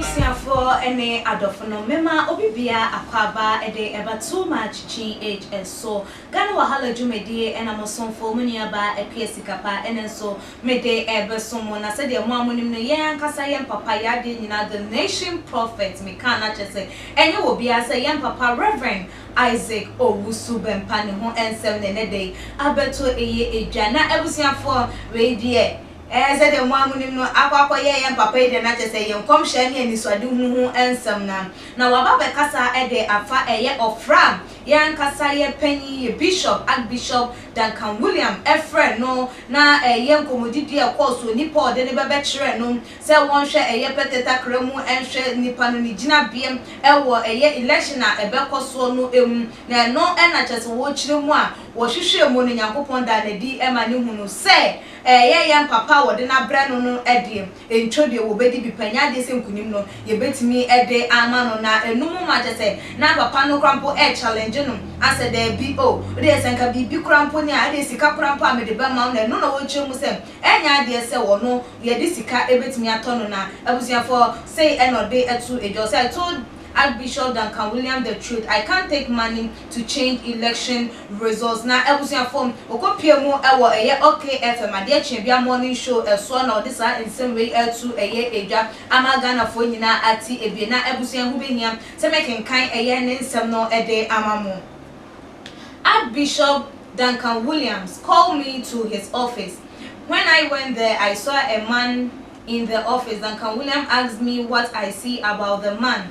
Abusuafoɔ ne adɔfonom, mema obi biara akwaaba de ɛba too much GH nso. Ghana Wahala dwumadie na mo somfo, mo nuabaa Appiah Sikapa, ɛno nso. Mede ɛrebesom mo, na sɛdeɛ mo a monim no, yɛn ankasa, yɛn papa, yɛn adeɛ nyinaa, the nation prophet, mekaa no akyerɛ sɛ ɛnyɛ obiara sɛ yɛn papa Rev. Isaac Owusu-Bempah ne ho nsɛm na ɛnnɛ da yi abɛto ɛyɛ dwa, na abusuafoɔ, wei deɛ, ɛɛ, sɛdeɛ mo a monim no, akɔ akɔyɛ yɛn papa yi deɛ, na kyerɛ sɛ yɛn nkɔmhyɛ ne anisoadehu ho nsɛm no, na waba abɛkasa de afa ɛyɛ ɔfrɛ a yɛn ankasa yɛn panin, yɛn bishop, Archbishop Duncan William frɛɛ no na ɛyɛ nkɔmmɔdidie a ɛkɔɔ so. Ɔni Paul de no bɛbɛkyerɛɛ no sɛ wɔnhwɛ ɛyɛ pɛtɛ takra mu nhwɛ nipa no ne gyinabeɛ wɔ ɛyɛ election a ɛbɛkɔ soɔ no mu. Na ɛno na kyerɛ sɛ wɔkyerɛ mu a wɔhwehwɛɛ mu no Nyankopɔn daa no adi ma no hunu sɛ ɛyɛ yɛn papa a wɔde no abrɛ no no deɛ Nkyɛ deɛ wɔbɛdi bi pɛ, nyɛ adeɛ sɛ nkunim no yɛbɛtumi de ama no, na ɛno mu ma kyerɛ sɛ na papa no koraa mpo ɛrechallenge no asɛ daabi o, wodeɛ sɛ nka biribi koraa mpo ni a, ɛdeɛ sika koraa mpo a mede bɛma wo, na ɛno na wɔkyerɛ mu sɛ ɛnyɛ adeɛ sɛ ɔno yɛde sika bɛtumi atɔ no, na abusuafoɔ sei na ɔde to dwa, ɔse, I told Archbishop Duncan Williams the truth, I can't take money to change election Results na abusuafo no wɔkɔ pie mu wɔ ɛyɛ ok FM adeɛ kyeɛ bia morning show ɛsoɔ na wɔde saa nsɛm wei atu ɛyɛ edwa ama Ghana foɔ nyinaa ate ebie na abusua ɛho bɛhia sɛ me kenkan ɛyɛ ne nsɛm no de ama mo Arch Bishop Duncan Williams called me to his office when I went there I saw a man in the office Duncan Williams asked me what I see about the man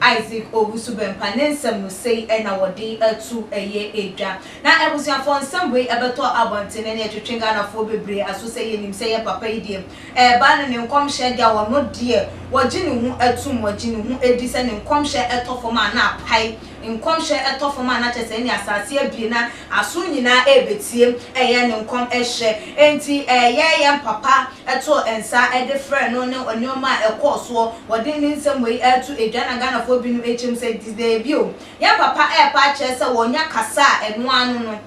Isaac Owusu-Bempah ne nsɛm no sei na wɔde ato ɛyɛ edwa. Na abusuafoɔ nsɛm wei ɛbɛtɔ abɔnten ne ɛtwetwe Ghanafoɔ bebree aso sɛ yɛnim sɛ yɛn papa yi deɛ ɛreba no ne nkɔmhyɛ deɛ a ɔno deɛ wɔgye ne ho atum wɔgye ne ho di sɛ ne nkɔmhyɛ ɛtɔ fam a na apae nkɔmhyɛ ɛtɔ fam a na kyerɛ sɛ ɛnneɛ asaase abue na Aso nyinaa rebetie, ɛyɛ ne nkɔmhyɛ. Enti ɛyɛ yɛn papa too nsa de frɛɛ no ne nneɛma a ɛkɔɔ soɔ. Wɔde ne nsɛm wei reto dwa na Ghanafoɔ binom akyem sɛ dabi o, yɛn papa repɛ akyerɛ sɛ wɔnya kasa a ɛno ara no no,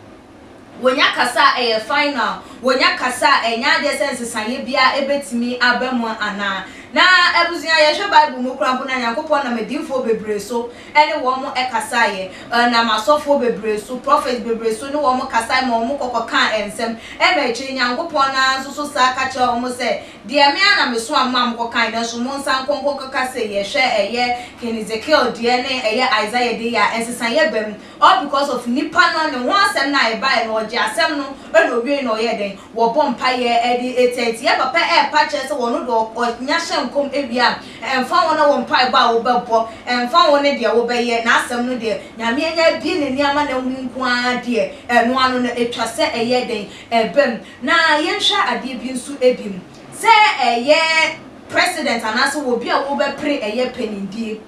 wɔnya kasa a ɛyɛ final, wɔnya kasa a ɛnyɛ adeɛ sɛ nsesaeɛ biara bɛtumi aba mu anaa. Na abusua, yɛhwɛ Bible mu koraa mpo no a, Nyankopɔn nam adiyifoɔ bebree so ne wɔn kasaeɛ, ɛnam asɔfoɔ bebree so, prophets bebree so ne wɔn kasaeɛ ma wɔn kɔkɔ kaa nsɛm, ɛma akyire Nyankopɔn no ara nso so san ka kyerɛɛ wɔn sɛ, Deɛ me ara na me somaa mo maa mo kɔ kaeɛ, nanso monsan nkɔ nkɔ kɔka sei yɛ, hwɛ ɛyɛ King Ezekiel deɛ ne ɛyɛ Isaiah deɛ yɛ a nsesaeɛ ba mu, all because of nipa no ne ho asɛm no a ɛbaeɛ no ɔgyee asɛm no na ɔwiei na ɔyɛɛ dɛn? Wɔbɔ mpaeɛ de tiatia, papa ɛrepa kyerɛ sɛ ɔno deɛ ɔnya hyɛ nkɔm wie a, Ɛmfa ho ne wo mpaebɔ a wobɛbɔ, ɛmfa ho ne deɛ wobɛyɛ, N'asɛm no deɛ, Nyame anya abue N'ani ama no ahunu nko ara deɛ, ɛno ano no, ɛtwa sɛ ɛyɛ dɛn? Ɛba mu. Na yɛnhwɛ adeɛ bi nso bi mu. Sɛ ɛyɛ President anaasɛ obi a wobɛpere ɛyɛ panindie,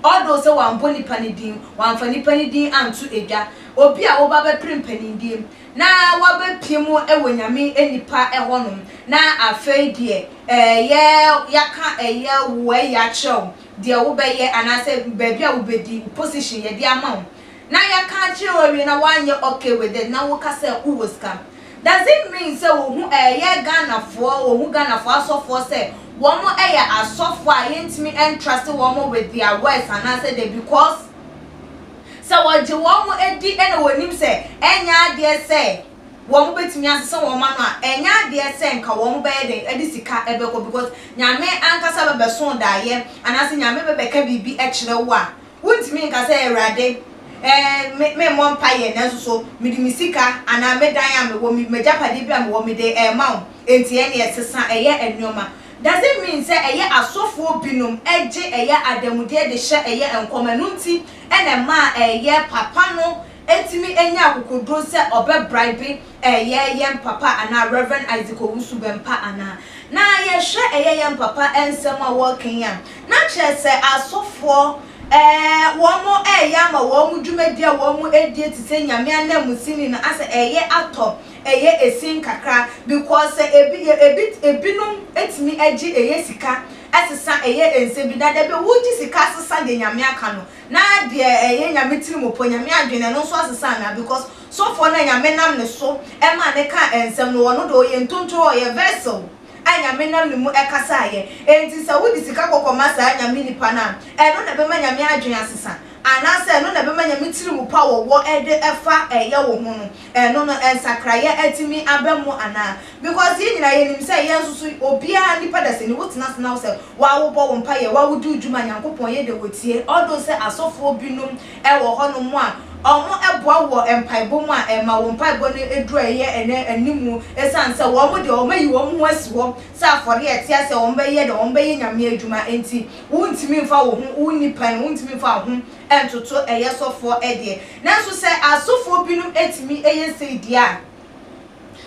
although sɛ wammɔ nipa no din, wamfa nipa no din anto dwa, obi a woba bɛpere mpanindie, na wɔabɛpue mu wɔ Nyame nnipa hɔ nom, na afei deɛ ɛyɛ yɛaka ɛyɛ wo ɛyɛ akyerɛ wo deɛ wo bɛyɛ anaasɛ baabi a wo bɛdi, wo position yɛde ama wo, na yɛaka akyerɛ wo awie na woanyɛ okay with it na woka sɛ wo wɔ sika, does it mean sɛ wɔhu ɛyɛ Ghanafoɔ, wɔhu Ghanafoɔ asɔfoɔ sɛ wɔn ɛyɛ asɔfoɔ a yɛntumi ɛntrust wɔn with their words anaasɛ dɛ because. Sɛ wɔgye wɔn ho di na wɔnim sɛ ɛnyɛ adeɛ sɛ wɔbɛtumi asesa wɔn ano a, ɛnyɛ adeɛ sɛ nka wɔbɛyɛ dɛn de sika bɛkɔ because Nyame ankasa bɛbɛso wo daeɛ anaasɛ Nyame bɛbɛka biribi kyerɛ wo a, wontumi nka sɛ Awurade eh, me memmɔ mpaeɛ nanso so mede me sika anaa me dan a mewɔ, m'agyapadeɛ bi a mewɔ mede rema wo, enti ɛnneɛ sesa ɛyɛ nneɛma. Does it mean sɛ ɛyɛ asɔfoɔ binom gye ɛyɛ adanmudeɛ de hyɛ ɛyɛ nkɔm ɛno nti na ɛmaa ɛyɛ papa no tumi nyaa akokoduro sɛ ɔbɛ bribe ɛyɛ yɛn papa anaa Rev. Isaac Owusu-Bempah anaa? Na yɛhwɛ ɛyɛ yɛn papa nsɛm a wɔka yi a na kyerɛ sɛ asɔfoɔ wɔn ɛyɛ ama wɔn dwumadie a wɔn die te sɛ Nyame ananmusini no asɛ ɛyɛ atɔ ɛyɛ ɛsin kakra because sɛ ebi yɛ ebi ebinom etumi ɛgye ɛyɛ sika ɛsesa ɛyɛ ɛnsɛ bi na dabi wo gye sika asesa deɛ nyame aka no na deɛ ɛyɛ nyame tiri mu pɔ nyame adwene ɛno nso asesa anaa because sɔfoɔ no a nyame nam ne so ɛmaa ne ka ɛnsɛm no ɔno deɛ ɔyɛ ntontoro ɔyɛ vessel a nyame nam ne mu ɛkasa ayɛ ɛnti sɛ wo de sika kɔkɔ ma saa nyame nipa no a ɛno na ɛbɛma nyame adwene asesa anaa sɛ ɛno na ɛbɛma nyame tiri mu pɔ a wɔwɔ ɛde ɛfa ɛyɛ wo ho no. Ɛno no nsakraeɛ atumi aba mu anaa? Because yɛn nyinaa yɛnim sɛ yɛn nso so obiara nipa dasani wo tena ase na wo sɛ waa wo bɔ wo mpaeɛ waa wo di wo dwuma Nyankopɔn yɛ deɛ ɔtie although sɛ asɔfoɔ binom wɔ hɔ nom a wɔn boa wɔ mpaebɔ mu a ɛma wɔn mpaebɔ no duru a ɛyɛ ɛnɛ animu ɛsiane sɛ wɔn deɛ wɔn ayi wɔn ho asi hɔ sɛ afɔreɛ a ɛte aseɛ wɔn bɛyɛ deɛ wɔn bɛyɛ Nyame adwuma nti wo ntumi mfa wo ho wo nipa no wo ntumi mfa wo ho ntoto ɛyɛ sɔfoɔ deɛ. Nanso sɛ asɔfoɔ binom tumi yɛ sei deɛ a,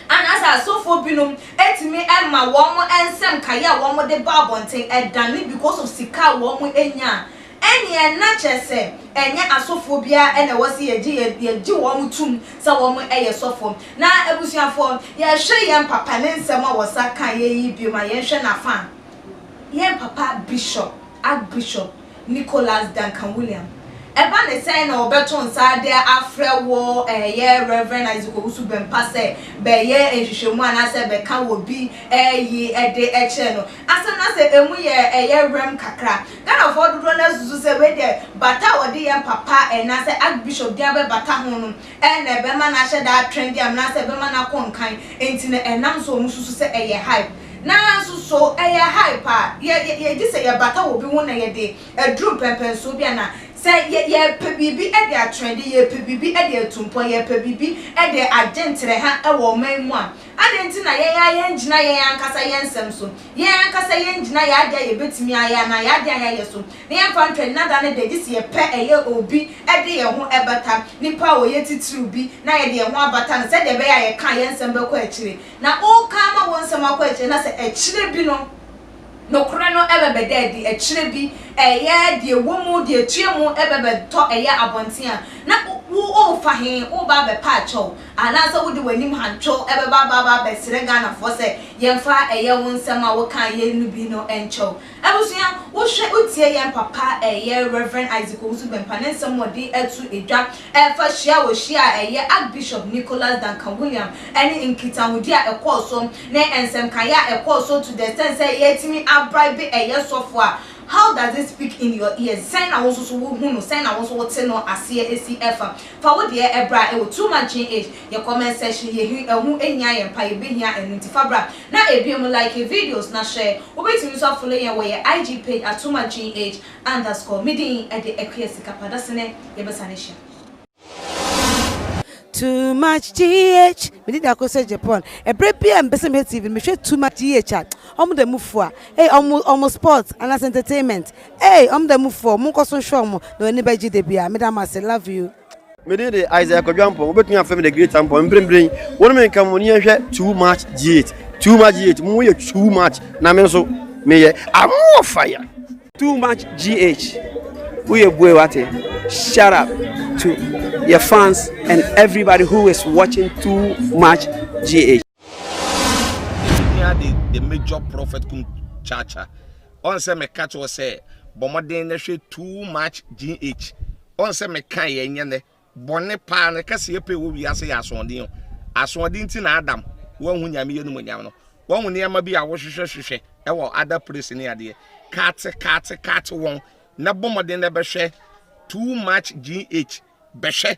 anaasɛ asɔfoɔ binom tumi ma wɔn nsɛm nkaeɛ a wɔde ba abɔnten dane because of sika a wɔnya a, ɛnneɛ na kyerɛ sɛ ɛnyɛ asɔfoɔ biara na ɛwɔ sɛ yɛgye yɛgye wɔn tom sɛ wɔyɛ sɔfoɔ. Na abusuafoɔ, yɛhwɛ yɛn papa ne nsɛm a ɔsa kaeɛ yi bio ma yɛnhwɛ n'afa a, yɛn papa Bishop, Archbishop, Nicholas Duncan William. Ɛba ne sɛ na wɔbɛto nsa de afrɛ wɔ Yɛ Rev. Isaac Owusu-Bempah sɛ bɛyɛ nhwehwɛmu anaasɛ bɛka wɔ bi yi de kyerɛ no. Asɛm no asɛ ɛmu yɛ Yɛ Rem kakra. Ghanafoɔ dodoɔ no ara susu sɛ wei deɛ bata a wɔde yɛ papa anaasɛ Archbishop din abɛbata ho no Ɛyɛ na ɛbɛma no ahyɛ da atrend anaasɛ ɛbɛma no akɔ nkan, enti na ɛnam so a wɔsusu sɛ ɛyɛ hype. Nanso so ɛyɛ hype a yɛ yɛ yɛgye sɛ yɛbata wɔ obi ho na yɛde aduru mpɛnpɛnsoɔ bi anaa? Sɛ yɛ yɛrepɛ biribi de atrɛnde, yɛrepɛ biribi de atu mpɔn, yɛrepɛ biribi de agye nterɛha wɔ ɔman mu a, adɛn nti na yɛn ara yɛngyina yɛn ankasa yɛn nsɛm so? Yɛn ankasa yɛn gyina yɛn ade a yɛbɛtumi ayɛ anaa yɛn ade a yɛayɛ so, na yɛmfa nto nnada no da, gye sɛ yɛpɛ yɛ obi de yɛn ho bata nipa a ɔyɛ titiriw bi na yɛde yɛn ho abata no sɛdeɛ ɛbɛyɛ a yɛka a yɛn nsɛm bɛkɔ akyire. Na woka ama wo nsɛm akɔ akyire na sɛ akyire bi no nokorɛ no bɛbɛda adi, akyire bi ɛyɛ deɛ ɛwɔ mu, deɛ ɛtua mu bɛbɛtɔ ɛyɛ abɔnten a, na wo worefa he? Woreba abɛpa akyɛw. Anaasɛ wode w'anim hantow bɛba abɛba abɛsrɛ Ghanafoɔ sɛ yɛmfa ɛyɛ wo nsɛm a wokaa yei no bi no nkyɛ wo? Abusua, wohwɛ wotie yɛn papa ɛyɛ Rev. Isaac Owusu-Bempah ne nsɛm a ɔde ato dwa ɛfa hyia a ɔhyiaa ɛyɛ Archbishop Nicholas Duncan William ne nkitahodi a ɛkɔɔ so ne nsɛmkaeɛ a ɛkɔɔ so to the extent sɛ yɛatumi a bribe ɛyɛ sɔfo a How does it speak in your ears? Sɛn na wo nso so wohu no? Sɛn na wo nso wote no aseɛ si ɛfa Fa wo deɛ bra ɛwɔ too much gee age yɛ comment section yɛ he ɛho hia yɛn pa yɛ bɛ hia ɛno nti fa bra na ɛbie mu like yɛ videos na share wo bɛ tumi nso afolo yɛn wɔ yɛ IG page at too much gee age underscore me din ɛde Akua Sika pa da sene yɛ bɛ sane hyia. Too much GH me dida ko sɛ Japan ɛberɛ bi a mpɛsɛ mehwɛ TV no mehwɛ too much GH a ɔmo da mu fua hey ɔmo ɔmo sports anase entertainment Eii ɔmo da mu foɔ monkɔ so nhwɛ ɔmo na w'ani bɛgye da biara meda mo ase love you. Me din de Isaiah Kwadwo Ampong, wobɛtumi afrɛ me The Great Ampong, mprempren yi, wo ne me nka mo ani nhwɛ Too Much G8, Too Much G8, mo yɛ too much na me nso me yɛ amɔ fire. Too much GH wo yɛ bue wate shout out to yɛ fans and everybody who is watching too much GH. Yɛhia the the major prophet kum chacha. Ɔn sɛ meka kyerɛ sɛ bɔ mmɔden na hwɛ too much GH. Ɔn sɛ meka yɛ nyɛ nɛ bɔne paa no kɛse yɛ pɛ wɔ wiase yɛ asoɔden o. Asoɔden ti na Adam wanhu Nyame yɛ no mu nyam no. Wahu nneɛma bi a wohwehwɛ hwehwɛ ɛwɔ other place ne adeɛ. Kaate kaate kaate wɔn na bɔ mmɔden na bɛhwɛ too much GH. Bɛhwɛ